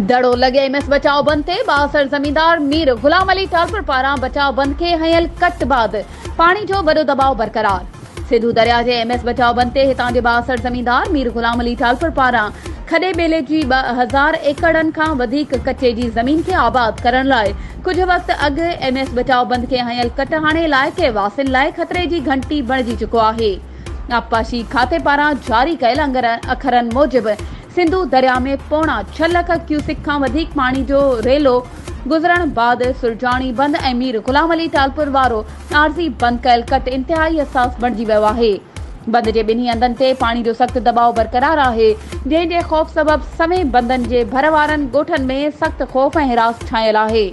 دڙو لڳي M S بچاء بند تي بااثر زميندار مير غلام علي ٽالپر پاران بچاء بند کي هنيل ڪٽ بعد پاڻي جو وڏو دٻاء برقرار سنڌو درياهه جي ايم ايس بچاء بند تي هتان جي بااثر زميندار مير غلام علي ٽالپر پاران کڏي ٻيلي جي ٻه هزار ايڪڙن کان وڌيڪ ڪچي جي زمين کي آباد ڪرڻ لاء ڪجهه وقت اڳ ايم ايس بچاء بند کي هنيل ڪٽ هاڻي علائقي واسين لاء خطري جي گهنٽي بڻجي چڪو آهي. آبپاشي کاتي پاران جاري ڪيل انگرن اکرن موجب سنڌو درياهه ۾ پوڻا ڇهه لک ڪيوسڪ کان وڌيڪ پاڻي جو ريلو گذرڻ بعد سرجاڻي بند ۽ مير غلام علي ٽالپر وارو عارضي بند ڪيل ڪٽ انتهائي حساس بڻجي ويو آهي. بند جي ٻنهي هنڌن تي پاڻي جو سخت دٻاء برقرار آهي، جنهن جي خوف سبب سوين بندن جي ڀر وارن ڳوٺن ۾ سخت خوف ۽ هراس ڇانيل آهي.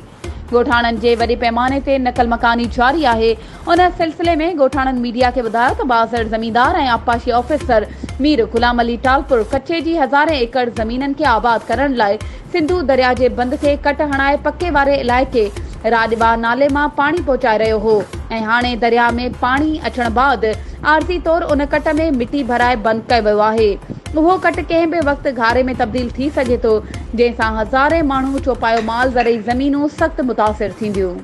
ڳوٺاڻن جي وڏي پيماني تي نقل مڪاني جاري آهي، ان سلسلي ۾ ڳوٺاڻن ميڊيا کي ٻڌايو ته بااثر زميندار ۽ آبپاشي آفيسر مير غلام علي ٽالپر ڪچي جي هزارين ايڪڙ زمينن کي آباد ڪرڻ لاء سنڌو درياء جي بند کي ڪٽ هڻائي پڪي واري علائقي راڄٻا نالي مان پاڻي پهچائي رهيو هو ۽ هاڻي درياء ۾ پاڻي اچڻ بعد عارضي طور ان ڪٽ ۾ مٽي ڀرائي بند ڪيو ويو آهي. اهو ڪٽ ڪنهن به وقت گهاري ۾ تبديل ٿي سگهي ٿو، جنهن سان هزارين ماڻهو، چوپايو مال، زرعي زمينون سخت متاثر ٿينديون.